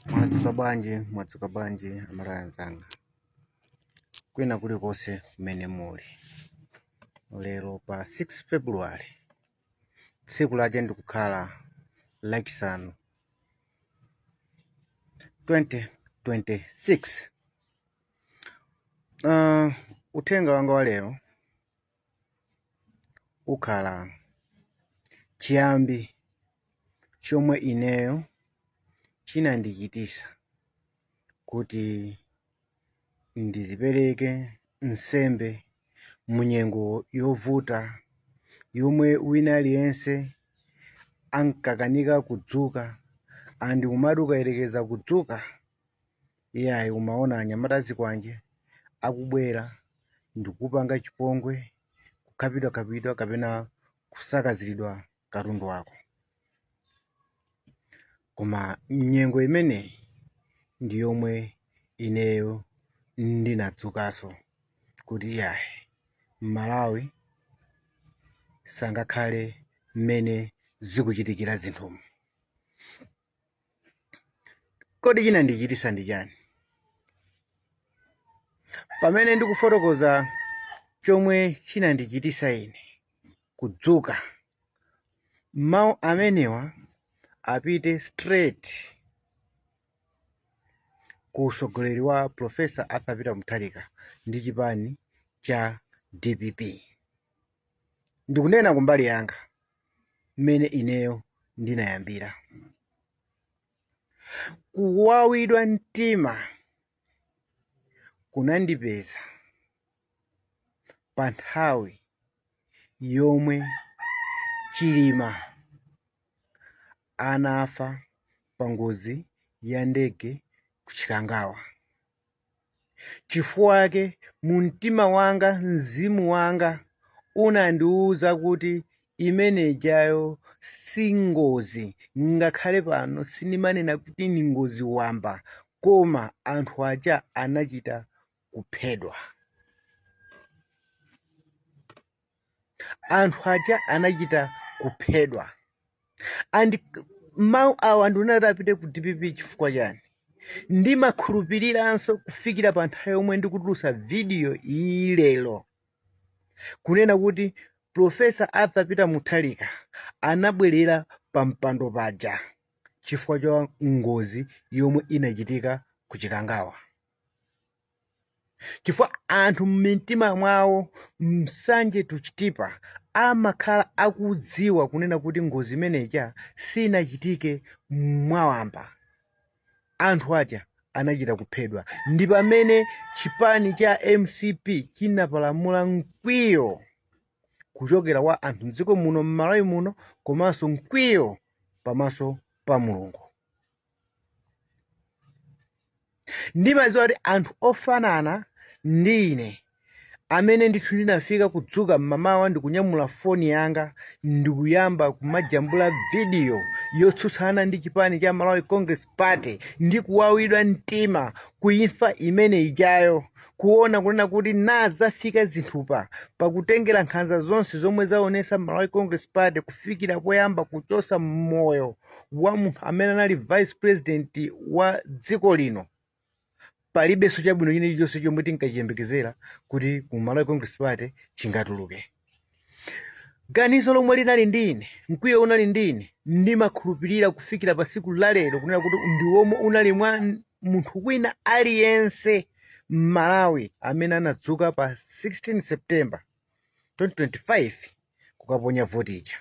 Mwadzuka bwanji, mwadzuka bwanji amalawi anzanga kwina kulikonse kumene muli lero pa 6 february tsiku lake ndikukhala lachisanu 2026 uh, uthenga wanga wa lero ukhala chiyambi chomwe ineyo chinandichitisa kuti ndizipereke nsembe mu nyengo yovuta yomwe wina aliyense ankakanika kudzuka and kumati ukayerekeza kudzuka Iyayi, umaona anyamata azikwanje akubwera ndikupanga chipongwe, kukhapidwakhapidwa kapena kusakaziridwa katundu wako. Koma nyengo imeneyi ndi yomwe ineyo ndinadzukanso kuti iyayi, m'Malawi sangakhale mmene zikuchitikira zinthumu. Kodi chinandichitisa ndi chani? Pamene ndikufotokoza chomwe chinandichitisa ine kudzuka, mau amenewa apite straight ku usogoleri wa Prof. Arthur Peter Mutharika ndi chipani cha dpp. Ndikunena kumbali yanga. mmene ineyo ndinayambira kuwawidwa mtima kunandipeza pa nthawi yomwe chilima anafa pa ngozi ya ndege ku chikangawa Chifukwa chake, mu mtima wanga, mzimu wanga unandiuza kuti imene ijayo si ngozi, ngakhale pano sindimanena kuti ni ngozi wamba, koma anthu aja anachita kuphedwa. anthu aja anachita kuphedwa and mawu awa ndikunena kuti apite ku dpp chifukwa chani ndimakhulupiriranso kufikira pa nthawi yomwe ndikutulusa vidiyo iyi lero kunena kuti profesa arthur peter mutharika anabwerera pa mpando paja chifukwa cha ngozi yomwe inachitika ku chikangawa chifukwa anthu mmitima mwawo msanje to chitipa amakhala akudziwa kunena kuti ngozi imene ija sinachitike mwawamba anthu aja anachita kuphedwa ndi pamene chipani cha mcp chinapalamula mkwiyo kuchokera kwa anthu mdziko muno mmalawi muno komanso mkwiyo pamaso pa mulungu ndimadziwa kuti anthu ofanana ndi ine amene ndithu ndinafika kudzuka m'mamawa ndikunyamula foni yanga ndikuyamba kumajambula vidiyo yotsutsana ndi chipani cha malawi congress party ndi kuwawidwa mtima ku imfa imene ijayo kuona kunena kuti ngati zafika zinthu apa pakutengera nkhanza zonse zomwe waonesa malawi congress party kufikira poyamba kuchosa moyo wa munthu amene anali vice president wa dziko lino palibenso chabwino china chilichonse chomwe tinkachiyembekezera kuti mu malawi congress party chingatuluke ganizo lomwe linali ndi ine mkwiyo unali ndi ine ndimakhulupirira kufikira pa siku lalero kunena kuti ndi womwe unali mwa n- munthu wina aliyense m'malawi amene anadzuka pa 16 september 2025 kukaponya voti ija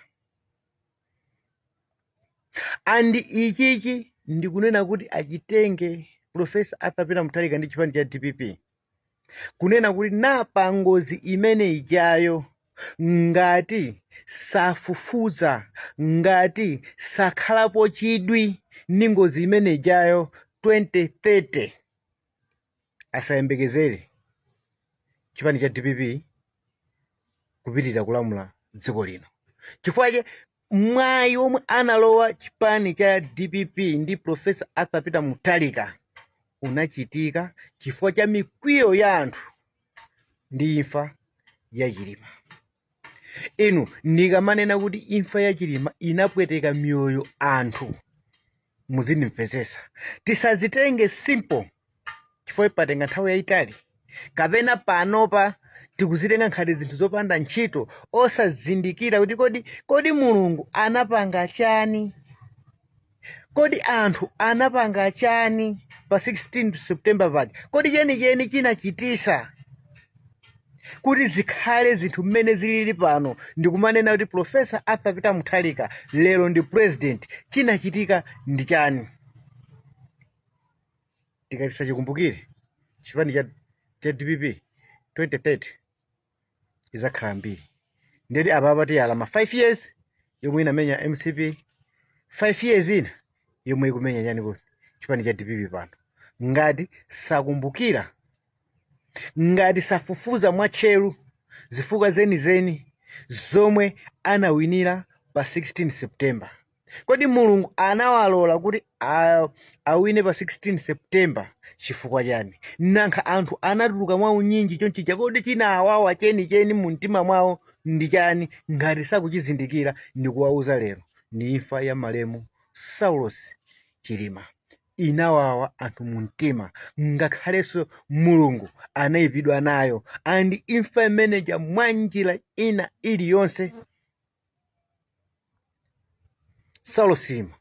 and ichichi ndikunena kuti achitenge profesa arthur peter mutharika ndi chipani cha dpp kunena kuti na pa ngozi imene ijayo ngati safufuza ngati sakhalapo chidwi ndi ngozi imene ijayo 2030 asayembekezere chipani cha dpp kupitirira kulamula dziko lino chifukwa chake mwayi omwe analowa chipani cha dpp ndi profesa arthur peter mutharika unachitika chifukwa cha mikwiyo ya anthu ndi imfa ya chilima Inu ndikamanena kuti imfa ya Chilima inapweteka miyoyo ya anthu muzindimvetsetsa. Tisazitenge simple chifukwa patenga nthawi yayitali kapena panopa tikuzitenga ngati zinthu zopanda ntchito osazindikira kuti kodi kodi Mulungu anapanga chani? Kodi anthu anapanga chani pa 16 September pake? Kodi chenicheni chinachitisa kuti zikhale zinthu mmene zilili pano ndikumanena kuti Professor Arthur Peter Mutharika lero ndi president, chinachitika ndi chani? Tikati sachikumbukira chipani cha, cha DPP 2030 izakhala mbiri ndiyedi apapa tiyala ma 5 years yomwe inamenya mcp 5 years ina yomwe ikumenya chani kuti chipani cha dpp pano ngati sakumbukira ngati safufuza mwatcheru zifukwa zenizeni zomwe anawinira pa 16 september kodi mulungu anawalola kuti a- awine pa 16 september chifukwa chani nankha anthu anatuluka mwa unyinji chonchija kodi chinawawa chenicheni mu mtima mwawo ndi chani ngati sakuchizindikira ndikuwauza lero ndi imfa ya malemu saulos chilima inawawa anthu mu mtima ngakhalenso mulungu anayipidwa nayo andi imfa imeneja mwa njira ina iliyonse saulos chilima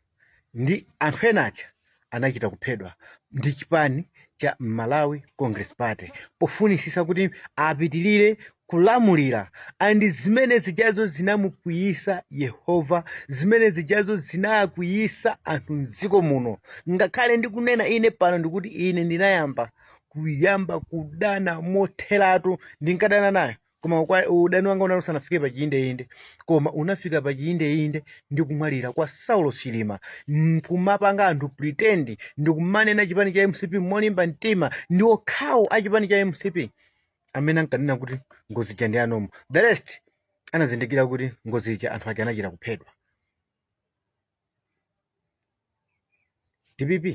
ndi anthu ena aja anachita kuphedwa ndi chipani cha malawi congress party pofunisisa kuti apitilire kulamulira andi zimene zijazo zinamukwiyisa yehova zimene zijazo zinakwiyisa anthu mdziko muno ngakhale ndikunena ine pano ndikuti ine ndinayamba kuyamba kudana motheratu ndinkadana nayo koma ukwa- udani wanga unali usanafike pa chiyindeyinde koma unafika pa chiyindeyinde ndi kumwalira kwa saulos chilima kumapanga anthu pretend ndi kumanena chipani cha mcp molimba mtima ndi okhawo a chipani cha mcp amene ankanena kuti ngozi ija ndi ya normal the rest anazindikira kuti ngozi ija anthu aja anachita kuphedwa dpp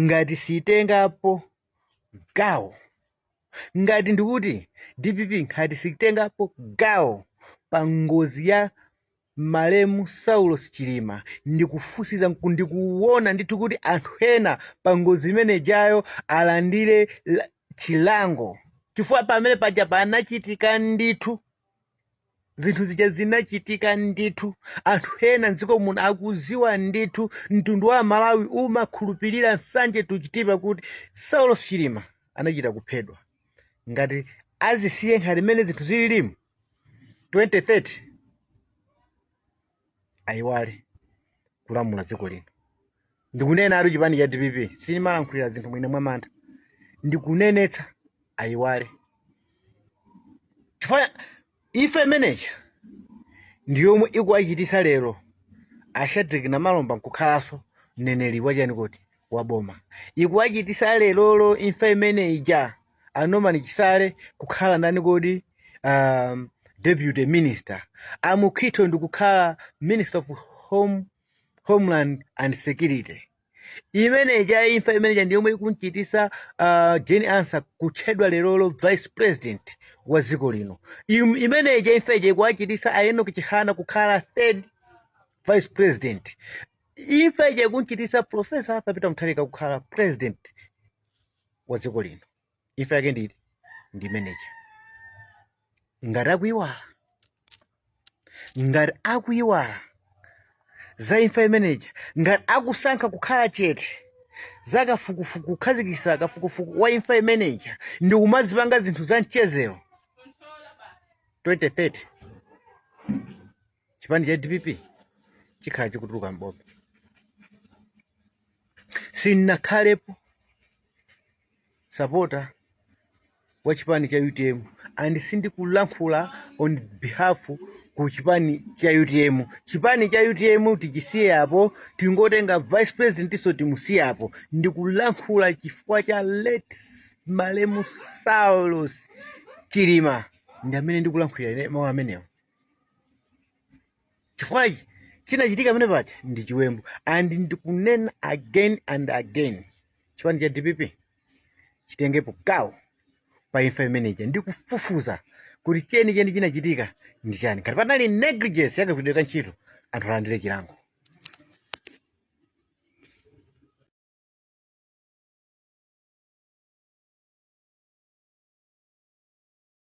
ngati sitengapo gawo ngati ndikuti dpp ngati sitengapo gawo pa ngozi ya malemu saulos chilima ndikufufuza nku- ndikuona ndithu kuti anthu ena pa ngozi imenejayo alandire la- chilango chifukwa pamene paja panachitika ndithu zinthu zija zinachitika ndithu anthu ena mdziko muno akuziwa ndithu mtundu wa amalawi umakhulupirira nsanje to chitipa kuti saulos chilima anachita kuphedwa ngati azisiye nkhani imene zinthu zililimu 2030 ayiwale kulamula dziko lino ndikunenatu chipani cha dpp sindimalankhulira zinthu mwina mwamantha ndikunenetsa ayiwale chifukwa imfa imeneja ndi yomwe ikuwachitisa lero a shadrack namalomba nkukhalanso mneneri wachani kuti wa boma ikuwachitisa lerolo imfa imene ija a Norman Chisale kukhala ndani kodi um, deputy minister a Mukhito ndikukhala minister of home, homeland and security imene ija imfa imene ija ndiyomwe ikumchitisa uh, Jane Ansah kutchedwa lerolo vice president wa dziko lino Im- imene ija imfa ija ikuwachitisa a Enoch Chihana kukhala third vice president imfa ija ikunchitisa profesa arthur peter mutharika kukhala president wa dziko lino imfa yake ndi ndi imeneja ngati akuyiwala ngati akuyiwala za imfa imeneja ngati akusankha kukhala chete za kafukufuku kukhazikisa kafukufuku wa imfa imeneja ndikumazipanga zinthu za mchezero 2030 chipani cha dpp chikhala chikutuluka m'boma sinakhalepo sapota wa chipani cha utm and sindikulankhula on behalf ku chipani cha utm chipani cha utm tichisiye apo tingotenga vice presidentnso timusiye apo ndikulankhula chifukwa cha late malemu saulos chilima ndi amene ndikulankhulira ine mawu amenewo chifukwa chi chinachitika pamene paja ndi chiwembu and ndikunena again and again chipani cha dpp chitengepo gawo pa imfa imeneja ndikufufuza kuti chenicheni chinachitika ndi chani ngati panali negligence yakagwiridwe ka ntchito anthu alandire chilango